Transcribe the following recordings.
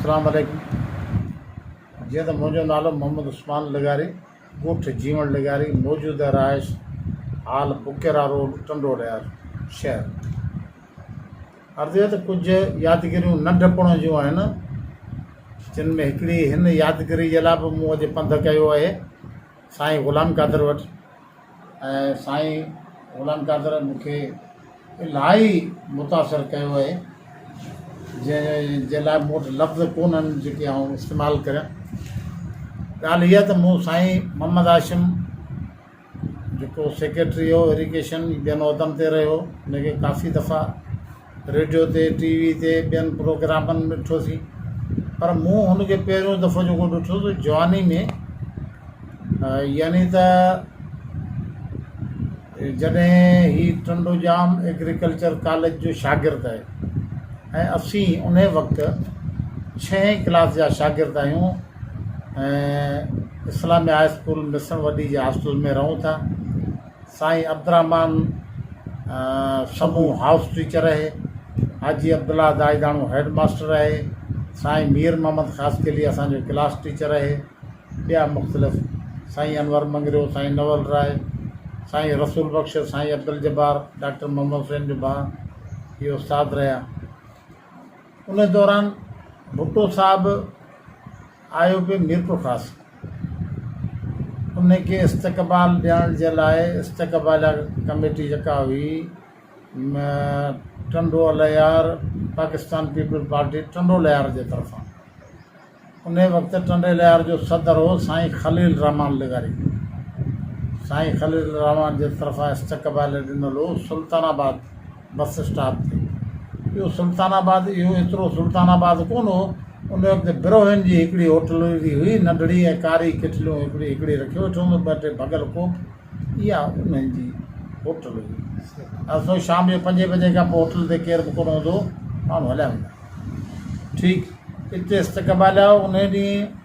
اسلام عليڪم جيئن ته منهنجو نالو محمد عثمان لغاري ڳوٺ جيوڻ لغاري موجوده رهائش حال بڪيرا روڊ ٽنڊو ڏيار شهر عرض اهي ته ڪجهه يادگيريون ننڍپڻ جون آهن جن ۾ هڪڙي هن يادگيري جي لاء به مون اڄ پنڌ ڪيو آهي سائين غلام قادر وٽ ۽ سائين غلام قادر مون کي الاهي متاثر ڪيو اهي جنهن جي لاء مون وٽ لفظ ڪونهن جيڪي آئون استعمال ڪريان ڳالهه هيء ته مون سائين محمد هاشم جيڪو سيڪريٽري هو ايريگيشن ٻين عهدن تي رهيو هو ان کي ڪافي دفعا ريڊيو تي ٽي وي تي ٻين پروگرامن ۾ ڏٺو سين پر مون هن کي پهريون دفعو جيڪو ڏٺو سو جواني ۾ يعني ته جڏهن هي ٽنڊوڄام ايگريڪلچر ڪاليج جو شاگرد آهي ۽ اسين ان وقت ڇهين ڪلاس جا شاگرد آهيون ۽ اسلامي هاء اسڪول مصڻ وڏي جي هاسٽل ۾ رهون ٿا سائين عبدالرحمان سمون هائوس ٽيچر رهي، حاجي عبدالله دائيداڻو هيڊ ماستر رهي، سائين مير محمد خاصخيلي اسان جو ڪلاس ٽيچر رهي، ٻيا مختلف سائين انور مڱريو، سائين نول راء، سائين رسول بخش، سائين عبدالجبار، ڊاڪٽر محمد حسين جو ڀاء اهي استاد رهيا. ان دوران ڀٽو صاحب آء او پي ميرپورخاص ان کي استقبال ڏيڻ جي لاء استقباليه ڪميٽي جيڪا هئي ٽنڊولهيار پاڪستان پيپلز پارٽي ٽنڊولهيار جي طرفان ان وقت ٽنڊولهيار جو صدر هو سائين خليل الرحمان لغاري سائين خليل الرحمان جي طرفان استقباليه ڏنل هو سلطان آباد بس اسٽاپ تي ٻيو سلطان آباد اهو ايترو سلطان آباد ڪونه هو ان وقت بروهين جي هڪڙي هوٽل ويندي هئي ننڍڙي ۽ ڪاري ڪيٽليون هڪڙي هڪڙي رکيو ويٺو هوندو ٻه ٽي ڀڳل ڪوپ اها انهن جي هوٽل هئي اسو شام جو پنجين بجي کان پوء هوٽل تي ڪير به ڪونه هوندو هو ماڻهو هليا ويندا ٺيڪ اتي استقبال آيو ان ڏينهن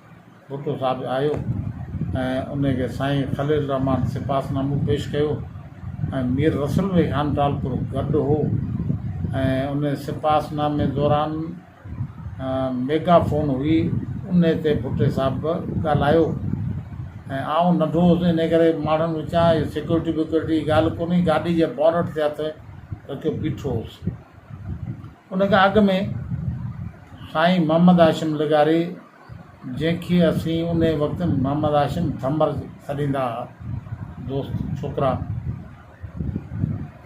ڀٽو صاحب آيو ۽ ان کي سائين خليل الرحمان سپاس نامو پيش ڪيو ۽ مير رسول علي خان ٽالپر گڏ هو ۽ ان سپاس نامي دوران ميگا فون هئي ان تي ڀٽي صاحب ڳالهايو ۽ آئون ننڍو هوس ان ڪري ماڻهن وچان هي سيڪيورٽي ويڪيورٽي جي ڳالهه ڪونهي گاڏي جي بونٽ تي هٿ رکيو بيٺو هوس ان کان اڳ ۾ سائين محمد هاشم لغاري جنهن کي اسين ان وقت محمد هاشم ٿمر سڏيندا ها دوست ڇوڪرا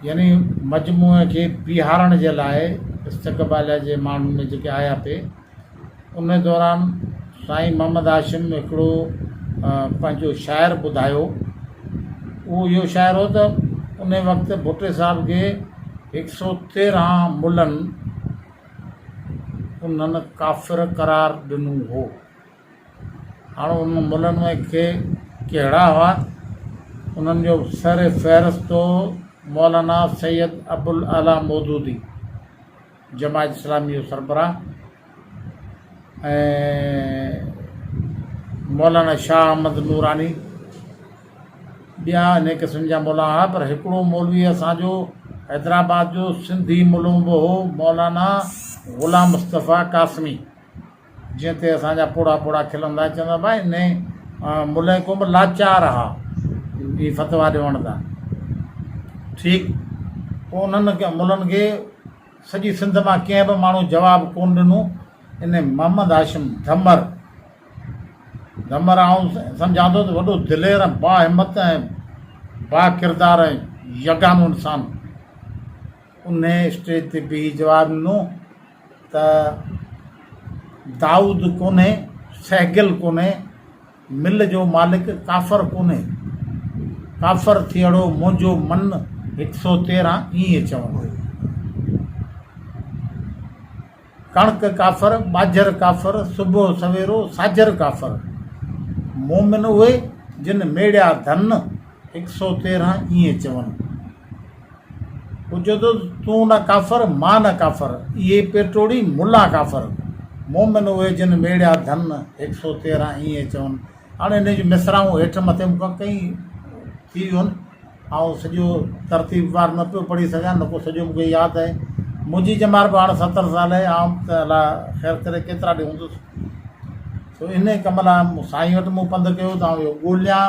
يعني مجموعي کي بيهارڻ جي لاء استقباليه جي ماڻهن ۾ جيڪي آيا پي ان دوران سائين محمد هاشم هڪڙو پنهنجو شعر ٻڌايو اهو اهو شعر هو ته ان وقت ڀٽي صاحب کي هڪ سو تيرهن ملن انهن ڪافر قرار ڏنو هو هاڻ انهن ملن ۾ ڪي ڪهڙا هئا انهن جو سر فهرست هو مولانا سيد ابوالاعليٰ مودودي جماعت اسلامي جو سربراهه ۽ مولانا شاهه احمد نوراني ٻيا انهي قسم جا مولانا هئا پر هڪڙو مولوي اسانجو حيدرآباد جو سنڌي ملون به هو مولانا غلام مصطفيٰ قاسمي جنهن تي اسان جا پوڙها پوڙها کلندا ۽ چوندا ڀاء ان جي ملئه ڪوبه لاچار اها هي فتويٰ ڏيوڻ تان ٺيڪ پوء انهن ملن کي سڄي سنڌ مان ڪنهن به ماڻهو جواب ڪون ڏنو ان محمد هاشم ڌمر ڌمر آئون سمجهان ٿو ته وڏو دلير ۽ با همت ۽ با ڪردار ۽ يگانو انسان ان اسٽيج تي بيهي جواب ڏنو ته دائود ڪونهي سهگل ڪونهي مل جو مالڪ ڪافر ڪونهي ڪافر ٿيئڙو منهنجو من هڪ سو تيرهن ايئن چوندو ڪڻڪ ڪافر ٻاجهر ڪافر صبح سويرو ساجهر ڪافر مومن اهي جن ميڙيا ڌن هڪ سو تيرهن ايئن چون پڇيو ته تون نه ڪافر، مان نه ڪافر، اهي پير ٽوڙي ملا ڪافر، مومن اهي جن ميڙيا ڌن، هڪ سؤ تيرهن ائين چون. هاڻ انهيء جون مصراعون هيٺ مٿي مون کان ڪئين ٿي ويون آهن، آئون سڄو ترتيب وار نه پيو پڙهي سگهيان، نه ڪو سڄو مون کي ياد آهي. منهنجي ڄمار به هاڻ ستر سال آهي، آئون ته الا خير ڪري ڪيترا ڏينهن هوندس، سو انهيء ڪم لاء سائينء وٽ مون پنڌ ڪيو ته آئون اهو ڳوليان.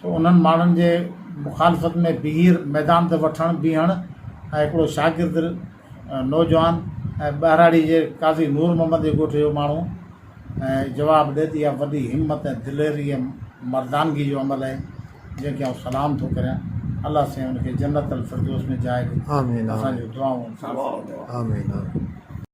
سو انهن ماڻهن جي مخالفت ۾ بيهر ميدان تي وٺڻ بيهڻ ۽ هڪڙو شاگرد نوجوان ۽ ٻهراڙي جي قاضي نور محمد جي ڳوٺ جو ماڻهو ۽ جواب ڏي ته اها وڏي همت ۽ دليري ۽ مردانگي جو عمل آهي جنهن کي آئون سلام ٿو ڪريان الله سائين ان کي جنت الفردوس ۾ جاء ڏي اسان جون دعائون آمين آمين.